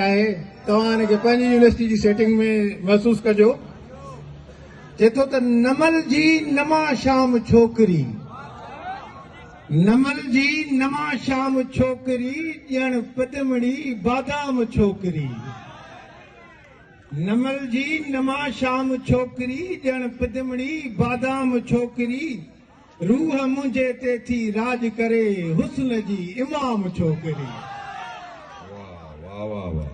آهي توهان ان کي پنهنجي يونيورسٽي جي سيٽنگ ۾ محسوس ڪجو چئي ٿو ته نمل جي نما شام ڇوڪري نمل جي نما شام ڇوڪري ڄڻ پدمڙي بادام ڇوڪري نمل جي نما شام ڇوڪري ڄڻ پدمڙي بادام ڇوڪري روح منهنجي تي ٿي راڄ ڪري حسن جي امام ڇوڪري. واه واه واه واه.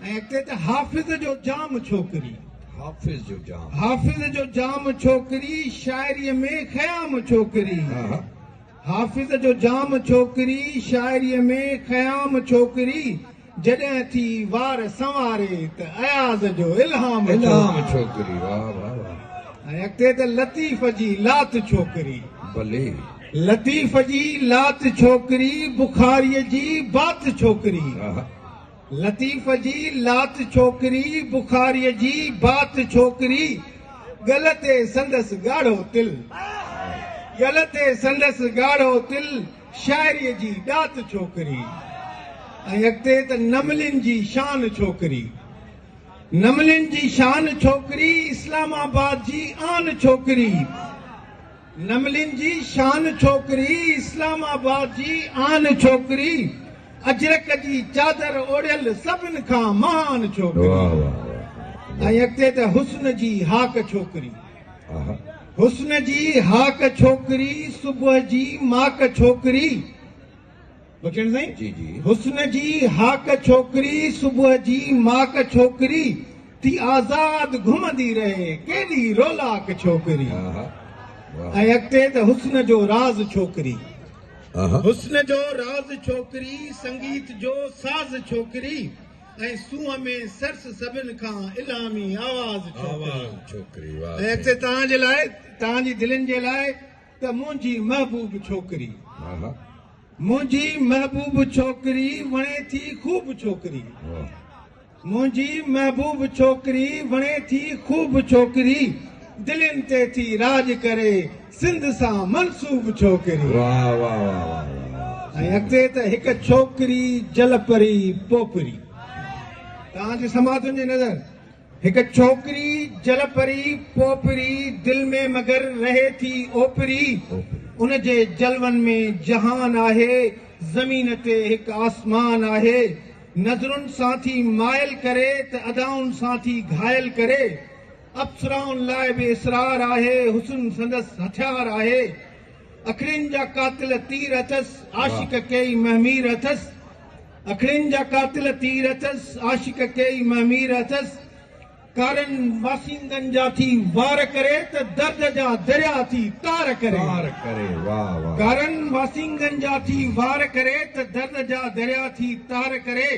۽ اڳتي ته حافظ جو جام ڇوڪري. حافظ جو جام. حافظ جو جام ڇوڪري شاعري ۾ خيام ڇوڪري. حافظ جو جام ڇوڪري شاعري ۾ خيام ڇوڪري. جڏهن ٿي وار سنواري ته اياز جو الهام ڇوڪري ۽ اڳتي ته لطيف جي لات ڇوڪري بلي لطيف جي لات ڇوڪري بخاري جي بات ڇوڪري لطيف جي لات ڇوڪري بخاري جي بات ڇوڪري ڳل تي سندس ڳاڙهو تل ڳل تي سندس ڳاڙهو تل شاعريء جي ڏات ڇوڪري ۽ اڳتي ته نملين جي شان ڇوڪري. نملين جي شان ڇوڪري، اسلام آباد جي آن ڇوڪري. نملين جي شان ڇوڪري، اسلام آباد جي آن ڇوڪري، اجرڪ جي چادر اوڙهيل سڀن کان مهان ڇوڪري ۽ اڳتي ته حسن جي هاڪ ڇوڪري. حسن جي هاڪ ڇوڪري صبح جي ماڪ ڇوڪري بچن سائين جي جي حسن جي هاڪ ڇوڪري صبح جي ماڪ ڇوڪري ٿي آزاد گهمندي رهي ڪيڏي رولاڪ ڇوڪري ۽ اڳتي ته حسن جو راز ڇوڪري حسن جو راز ڇوڪري سنگيت جو ساز ڇوڪري ۽ سونهن ۾ سرس سڀن کان الهامي آواز ڇوڪري ۽ اٿي توهان جي لاء توهان جي دلين جي لاء ته منهنجي محبوب ڇوڪري منهنجي محبوب ڇوڪري وڻي ٿي خوب ڇوڪري منهنجي محبوب ڇوڪري وڻي ٿي خوب ڇوڪري دلين تي ٿي راڄ ڪري سنڌ سان منسوب ڇوڪري. واه واه واه واه واه. ۽ اڳتي ته هڪ ڇوڪري جلپري پوپري. توهان جي سماعتن جي نظر هڪ ڇوڪري جلپري پوپري دل ۾ مگر رهي ٿي اوپري. ان جي جلون ۾ جهان آهي زمين تي هڪ آسمان آهي. نظرن سان ٿي مائل ڪري ته ادائن سان ٿي گهائل ڪري. اپسرائن لاء به اسرار آهي، حسن سندس هٿيار آهي، اکڙين جا قاتل تير اٿس، عاشق ڪيئي مهمير اٿس، اکڙين جا قاتل تير اٿس، عاشق ڪيئي مهمير اٿس، ڪارن باسيندن جا ٿي وار ڪري ته درد جا دريا ٿي تار ڪري، ڪارن باسيندن جا ٿي وار ڪري ته درد جا دريا ٿي تار ڪري،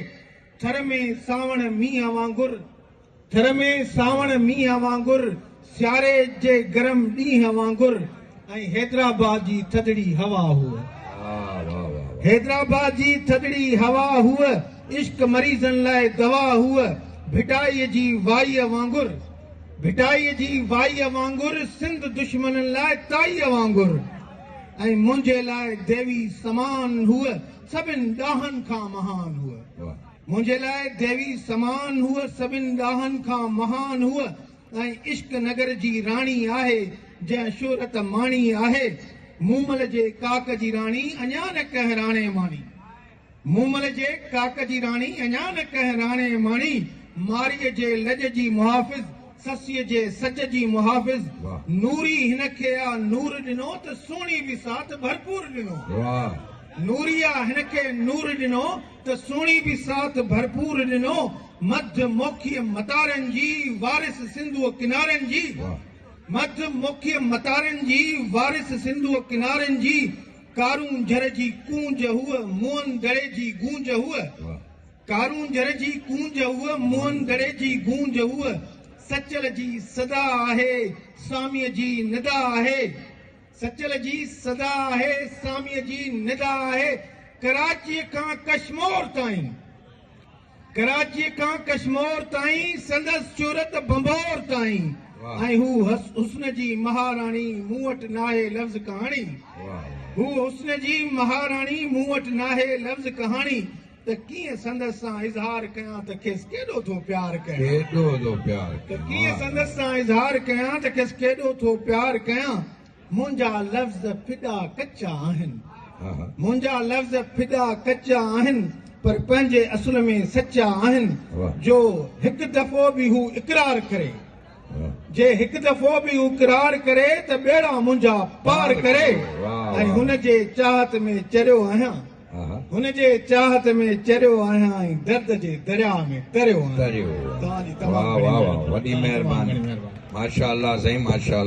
ٿر ۾ سانوڻ مينهن وانگر. ٿر ۾ سانوڻ مينهن وانگر، سياري جي گرم ڏينهن وانگر ۽ حيدرآباد جي ٿڌڙي هوا هوء. حيدرآباد جي ٿڌڙي هوا هوء، عشق مريضن لاء دوا هوء، ڀٽائيء جي وائيء وانگر، ڀٽائيء جي وائيء وانگر، سنڌ دشمنن لاء تائيء وانگر ۽ منهنجي لاء ديوي سمان هوء، سڀن ڏاهن کان مهان هوء. منهنجي لاء ديوي سمان هوء سڀن ڏاهن کان مهان هوء ۽ عشق نگر جي راڻي آهي جنهن شهرت ماڻي آهي مومل جي ڪاڪ جي راڻي اڃا نه ڪنهن راڻي ماڻي مومل جي ڪاڪ جي راڻي اڃا نه ڪنهن راڻي ماڻي مارئي جي لڄ جي محافظ سسئي جي سچ جي محافظ نوري هن کي آ نور ڏنو ته سهڻي به ساٿ ڀرپور ڏنو نوري آ هن کي نور ڏنو ته سهڻي به ساٿ ڀرپور ڏنو، مڌ موکيء متارن جي وارث سنڌوء ڪنارن جي، مڌ موکيء متارن جي وارث سنڌوء ڪنارن جي، ڪارون جھر جي ڪونج هوء، موئن دڙي جي گونج هوء، ڪارون جھر جي ڪونج هوء، موئن دڙي جي گونج هوء، سچل جي صدا آهي، سواميء جي ندا آهي. سچل جي صدا آهي، ساميء جي ندا آهي، ڪراچيء کان ڪشمور تائين، ڪراچيء کان ڪشمور تائين، سندس شهرت ڀنڀور تائين، ۽ هو حسن جي مهاراڻي، مون وٽ ناهي لفظ ڪهاڻي، هو حسن جي مهاراڻي، مون وٽ ناهي لفظ ڪهاڻي، ته ڪيئن سندس سان اظهار ڪيان ته کيس ڪيڏو ٿو پيار ڪيان ڪيڏو ٿو پيار ڪيان ته ڪيئن سندس سان اظهار ڪيان ته کيس ڪيڏو ٿو پيار ڪيان منهنجا لفظ ڦڏا ڪچا آهن منهنجا لفظ ڦڏا ڪچا آهن پر پنهنجي اصل ۾ سچا آهن جو هڪ دفعو به هو اقرار ڪري جي هڪ دفعو به اقرار ڪري ته ٻيڙا منهنجا پار ڪري ۽ هن جي چاهت ۾ چريو آهيان هن جي چاهت ۾ چريو آهيان ۽ درد جي درياء ۾ تريو آهيان. واه واه واه وڏي مهرباني ماشاءالله سائين ماشاءالله.